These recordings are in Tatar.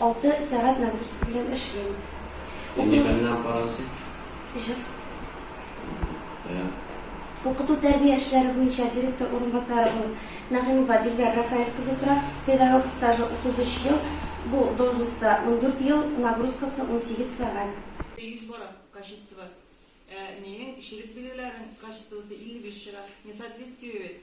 Алты сәгать нагрузка белән эшлим. Нибәннән карансың? Җыр. Укыту тәрбия эшләре буенча директор урынбасары булып Нәгыймова Дилбәр Рафаэль кызы тора. Педагог стажы 33 ел, бу должностьта 14 ел, нагрузкасы 18 сәгать. Йөз бара, качество. Ә минем кешелек билгеләрнең качествосы 55 чыга. Несоответствие бит.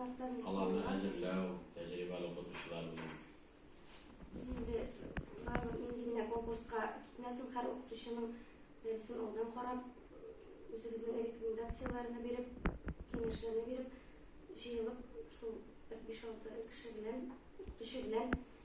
Аларны әзерләү, тәҗрибәле укытучылар белән. Без инде барыбер нинди генә конкурска китмәсен, һәр укытучының дәресен алдан карап, үзебезнең рекомендацияләрне биреп, киңәшләрне биреп, җыелып, шул бер биш-алты кеше белән, укытучы белән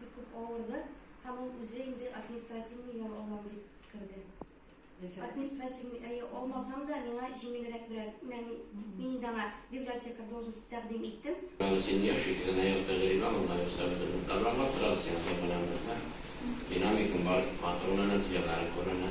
Бик күп авырды һәм ул үзе инде административный ял алам дип керде. Административный әйе алмасам да миңа җиңелрәк берәр мәни мин инде аңа библиотека должность тәкъдим иттем. Син яшь икән, генә ел тәҗрибә монда юкса бөтен уктарларга торабыз сиңа сәбәләнмәсә. Динамикың бар, матур гына нәтиҗәләрең күренә.